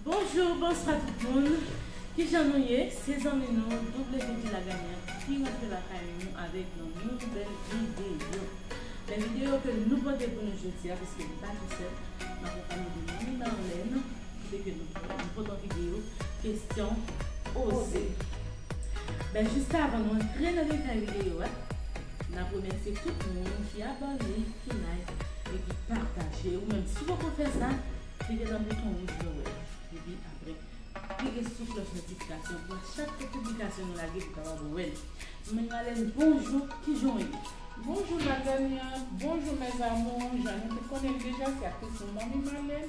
Bonjour bonswa tout moun kijan nou ye se zanmi nou WD Lagagnant ki rantre lakay nou avèk yon nouvèl video men video ke nou pote pou nou jodia paske m pa tou sèl m akonpanye de Manmi Marlène ki te ke nou pote yon video kesyon oze men juste avan nou antre nan detay video a nap remèsye tout moun ki abòne ki like Epi pataje ou menm si ou poko fè sa klike nan bouton wouj vè wè a epi aprè klike sou klòch notifikasyon pou a chak fè piblikasyon nou lage pou kapab wèl Mwen Marlène bonjou kijan ou ye? Bonjou Madame Yang, bonjou mes amours, jan nou tout konnenl deja se aktris nou Manmi Malèn.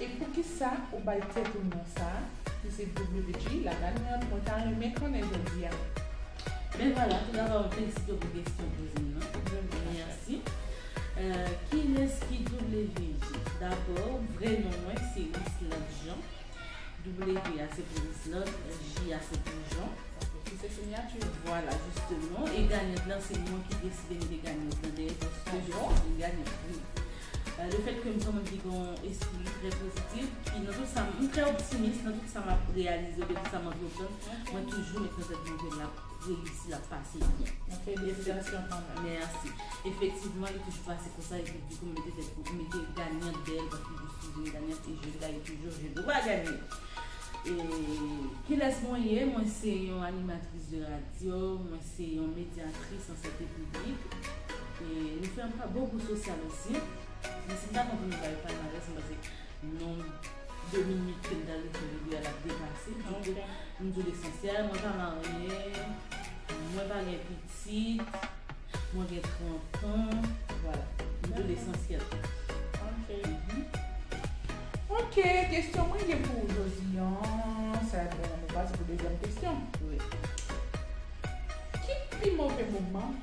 E poukisa ou bay tèt ou non sa ki se WG la gagnante mwen ta renmen konnen jodi a. Ben vwala, tou dabò mwen felisite w pou kesyon w poze m nan. Mwen menm ma chère. Mèsi. Kilès ki WG? Dabò, vrè non mwen se Wislande Jean. W a se pou Wislande, J a se pou Jean. Ok, ki se sinyati w. Vwala, jisteman. E gagnante lan se mwen ki deside mete gagnante lan dèyè paske je suis une gagnante, wi. Le fèt ke m son moun ki gen yon espri trè pozitif, ki nan tout sa m, m trè optimis nan tout sa m ap reyalize, nan tout sa m antreprann, mwen toujou met nan tèt mwen ke l ap reyisi, l ap pase byen. Mwen felisitasyon kanmenm. Mèsi. Efektivman, li toujou pase konsa epi m toujou mete tèt mwen, m mete gagnant dèyè l paske m toujou sou vini gagnant e je gaye toujou, je dwa ganye. E kilès mwen ye? Mwen se yon animatris de radyo, mwen se yon medyatris an sante piblik. Nou fè anpil bon pou sosyal osi. Men si m ta kontinye bay palmarès m panse nonb de minit ke m ta dwe fè videyo a l ap depase. Donk m di w lesansyèl mwen pa marye, mwen pa gen pitit, mwen gen 30 an. Vwala. M di w lesansyèl. Ok, kesyon mwen gen pou w jodi an, sa vle di nou pase pou dezyèm kesyon. Ki pi move moman?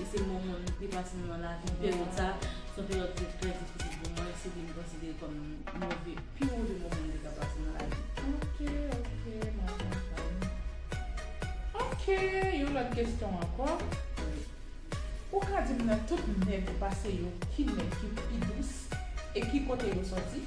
E se moman m pi pase nan lavi m. Peryòd sa a, se yon peryòd ki te trè difisil pou mwen. Se vin konsidere kòm move, pi move moman m te ka pase nan lavi m. Ok, ok, m ap konprann. Ok, yon lòt kesyon ankò. Wi. Ou ka di m nan tout nèg ou pase yo, ki nèg ki pi dous e ki kote yo sòti?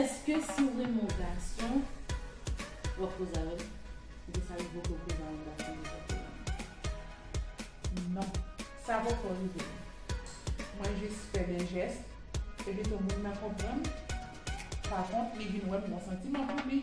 Eske siw renmen yon gason wap koze avèl oubyen sa rive w pouw koze a yon gason deja pou w renmenl? Non. Sa poko rive m. Mwen jis fè de jès e pito moun nan konprann. Pa kont li vin wè m gon santiman pou li.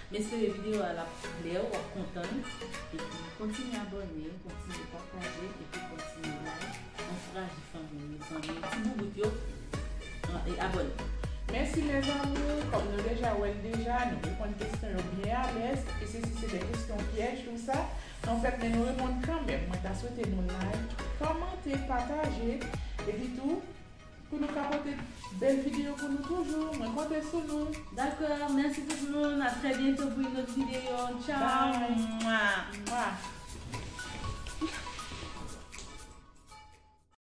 Men sere video a lap klè wap kontann epi kontinye abòne kontinye pataje epi kontinye like ankouraje fanmiw yo zanmiw ti boubout yo e abòne. Mèsi mes amours kòm nou deja wèl deja nou reponn kesyon yo byen alèz e se si se de kesyon pyèj tou sa nou fèt men nou reponn kanmèm mwen ta swete nou like kòmante pataje epi tou Pou nou ka pote bel video pou nou toujou mwen konte sou nou. Dakò mèsi tout moun a trè byento pou yn lòt video tchao.